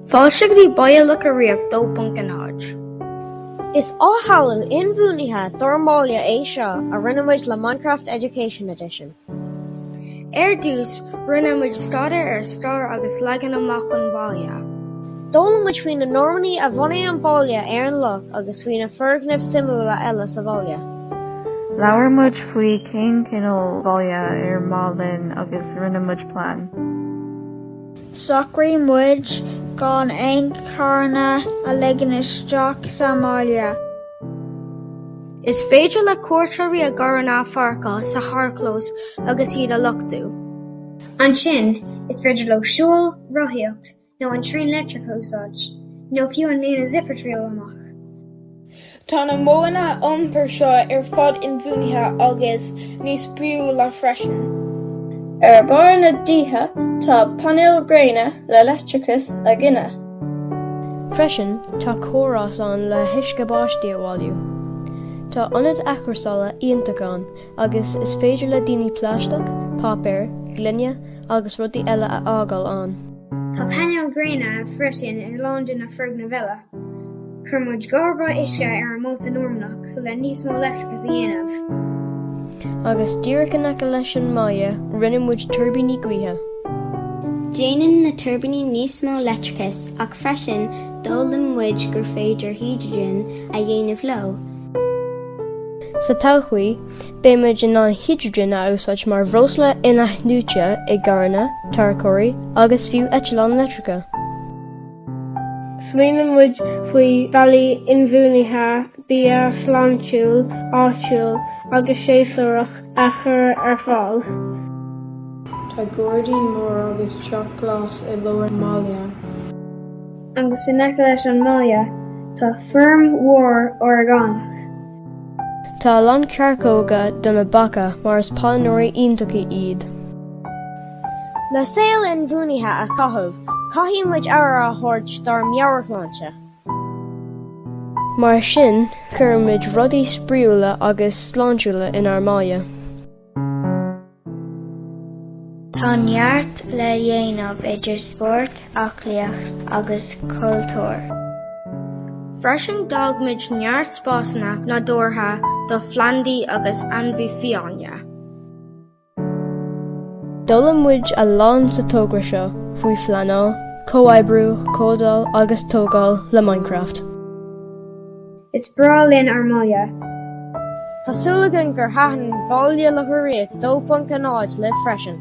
Fáilte go dtí Baile Locha Riach 2.0. Is samhail inbhuanaithe dár mbaile é seo a rinne muid le Minecraft Education Edition. Ar dtús, rinne muid staidéar ar stair agus leagan amach an bhaile. D'fhoghlaim muid faoi na Normannaigh a bhunaigh an baile ar an loch agus faoi na foirgnimh suimiúla eile sa bhaile. Labhair muid faoi cén cineál bhaile ar mhaith linn agus rinne muid plean. Shocraigh muid gan aon charranna a ligean isteach sa mbaile. Is féidir le cuairteoirí a gcarranna a pháirceáil sa charrchlós agus iad a luchtú. Ansin, is féidir leo siúl, rothaíocht nó an traein leictreach a úsáid, nó fiú an líne zip a thriail amach. Tá na modhanna iompair seo ar fad inbhuanaithe agus níos spraíúla freisin. Ar bharr na dtithe tá painéil ghréine le leictreachas a ghineadh. Freisin tá córás ann le huisce báistí a bhailiú. Tá ionad athchúrsála iontach ann agus is féidir le daoine plaisteach, páipéar, gloine agus rudaí eile a fhágáil ann. Tá painéil ghréine freisin ar lán de na foirgnimh eile. Chuir muid damba uisce ar an Móta Normannach le níos mó leictreachais a dhéanamh. Agus díreach in aice leis an mbaile, rinne muid tuirbíní gaoithe. Déanann na tuirbíní níos mó leictreachais ach freisin d'fhoghlaim muid gur féidir hidrigin a dhéanamh leo. Sa todhchaí, beidh muid in ann hidrigin a úsáid mar bhreosla inathnuaite i gcarranna, tarracóirí agus fiú eitleáin leictreacha. Smaoinigh muid faoi bhealaí inbhuanaithe bia sláintiúil, áitiúil agus séasúrach a chur ar fáil. Tá gairdín mór agus teach glas i lár an bhaile. Agus in aice leis an mbaile tá feirm mhór orgánach. Tá a lán coirceoga do na beacha mar is pailneoirí iontacha iad. Le saol inbhuanaithe a chaitheamh, caithfidh muid aire a thabhairt dár meabhairshláinte. Mar sin, chuir muid rudaí spraíúla agus sláintiúla inár mbaile. Tá neart le dhéanamh idir spórt, aclaíocht agus cultúr. Freisin, d'fhág muid neart spásanna nádúrtha do phlandaí agus ainmhithe fiáine. D'fhoghlaim muid a lán sa togra seo faoi phleanáil, comhoibriú, códáil agus tógáil le Minecraft. Is breá linn ár mbaile. Tá súil againn gur thaitin Baile Locha Riach 2.0 libh freisin.